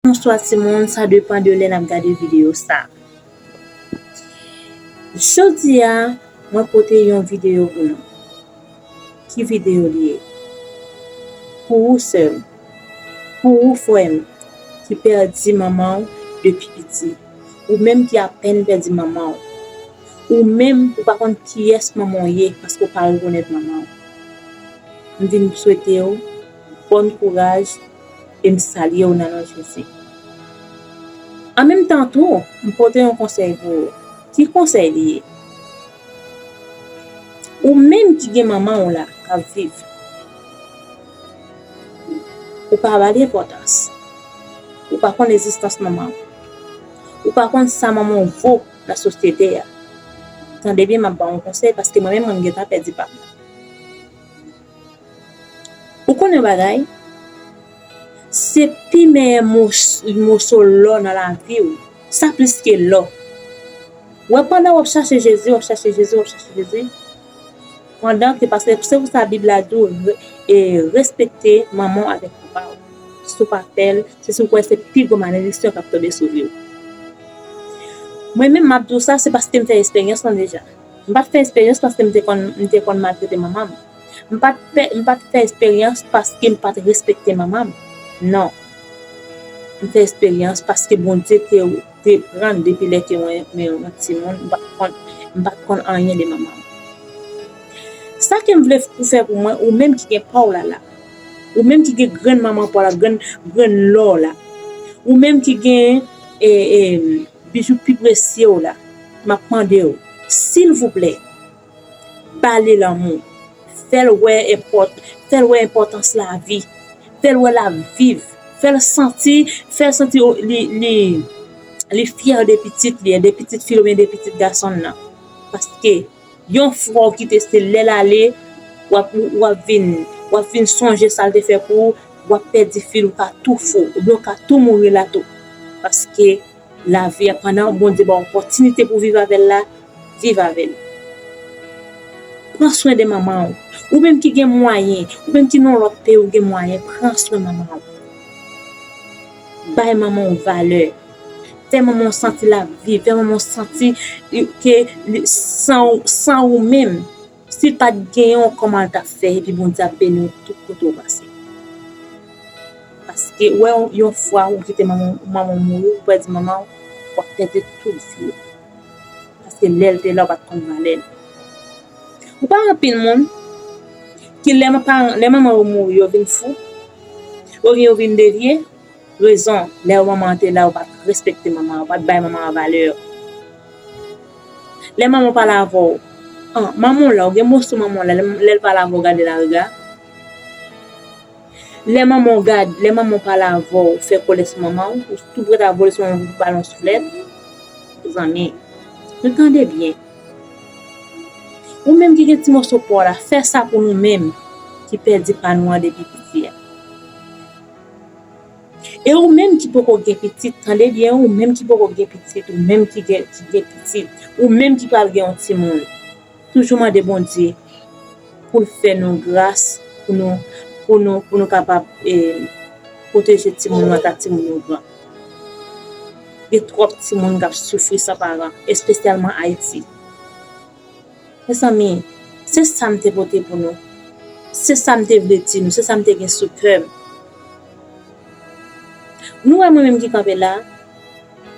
Bonswa timoun sa depan de lè nap gade videyo sa Jodia mwen pote yon videyo pou nou Ki videyo li ye? Pou ou sèm Pou ou frèm ki pèdi manman ou depi piti Ou menm ki apèn pèdi manman ou Ou menm ou pa konn kiyès manman ou ye paske ou pa rekonèt manman ou M vin swete ou bòn kouraj e m salye w nan non Jezi. An menm tan tou, m pote yon konsèy pou ou. Ki konsèy li ye? Ou menm ki gen manman w la k ap viv, ou pa ba li enpòtans. Ou pa konn egzistans manman w. Ou pa konn sa manman w vo nan sosyete a. Tande byen m ap ba w yon konsèy paske mwen menm mwen gentan pèdi pa m. Ou konn yon bagay, se pi meyè moso lò nan lavi ou, sa plis ke lò. Wè pandan wap chache Jezi, wap chache Jezi, wap chache Jezi, pandan ke paske se pou sa bib la di ou e respekte manman ou avèk papa ou. Si ou pa fèl, se si ou kwè se pi gwo malediksyon kap tonbe sou viw. Mwen menm map di ou sa se paske m fè esperyans lan deja. M pa t fè esperyans paske m te konn m te konn maltrete manman m. M pa t pè m pa t fè esperyans paske m pa t respekte manman m. Non. M fè esperyans paske Bondye te te pran m depi lè ke mwen mwen yon timoun m pa t konn m pa t konn anyen de manman m. Sa ke m vle ou fè pou mwen, ou menm ki gen pa w la la, ou menm ki gen grenn manman pa w la, grenn grenn lò w la, ou menm ki gen e e Bijou pi presye w la map mande w silvouplè ba li lanmou fèl wè enpòt fèl wè enpòtans lavi fèl wè lap viv fèl santi fèl santi li li li fyè de pitit li de pitit fi l oubyen de pitit gason l nan paske Yon fwa w kite se lè l ale, w ap w ap vin w ap vin sonje sa l te fè pou ou, w ap pèdi fil ou ka tou fou oubyen w ka tou mouri la tou. Paske lavi a pandan Bondye ba w opòtinite pou w viv avè l la, viv avè l. Pran swen de manman w. Ou menm ki gen mwayen, ou menm ki nan yon lòt peyi ou gen mwayen, pran swen manman w. Bay manman w valè. Fè manman w santi l ap viv, fè manman w santi ke san ou menm, si l pa t genyen w kòman l t ap fè epi Bondye ap beni w tout kote w pase. Paske wè yon fwa ou kite manman w, manman w mouri, ou pèdi manman w, w ap pèdi tout vi w. Paske lè l te la ou pa t konn valè l. Ou pa wè anpil moun ki lè manman yo mouri yo vin fou, oubyen yo vin devye, Rezon, lè manman an te la ou pa t respekte manman an, ou pa t bay manman an valè. Lè manman w pale avè w, an, manman w la, ou gen mo sou manman w la, lè l pale avè w gade l a rega. Lè manman w gad, lè manman w pale avè w, ou fè kole sou manman w, ou tou prèt a vole sou manman w pou ba l yon souflèt. Mezanmi, nou tande byen. Ou menm ki gen ti moso pa w la, fè sa pou nou menm ki pèdi pa nou an depi piti a. E ou menm ki poko gen pitit tande byen ou menm ki poko gen pitit ou menm ki gen pitit ou menm ki pral gen yon timoun toujou mande Bondye poul fè nou gras pou nou pou nou pou nou kapab e pwoteje timoun nou ata timoun nou gran gen twòp timoun kap soufri san paran espesyalman Ayiti. Mezanmi, se sa m te pote pou nou. Se sa m te vle di nou. Se sa m te gen sou kè m. Nou wè mwen menm ki kanpe la a,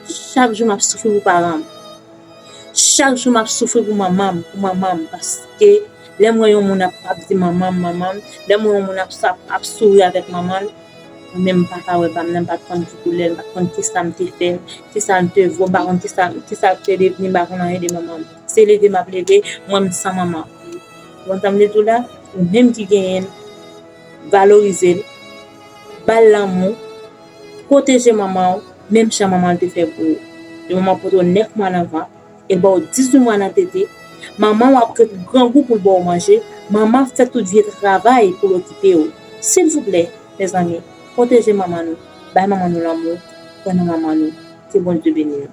chak jou m ap soufri pou paran m. Chak jou m ap soufri pou manman m, pou manman m. Paske, lè m wè yon moun ap di manman m, manman m, lè m wè yon moun ap souri avèk manman l, mwen menm m pa ka wè pa m nan, m pa t konn ki koulè l, m pa t konn ki sa m te fè, ki sa l te vo, m pa konn ki sa l te devni, m pa konn anyen de manman m. Se leve map leve mwen m san manman ou antanm li tou la ou menm ki genyen l valorize l bal lanmou pwoteje manman w menm jan manman l te fè pou ou yon manman pote w 9 mwa nan vant el baw 18 mwa nan tete manman w ap ret grangou poul baw manje manman ap fè tout vye travay poul okipe w silvouplè mezanmi pwoteje manman nou bay manman nou lanmou pran nan manman nou ke Bondye beni nou.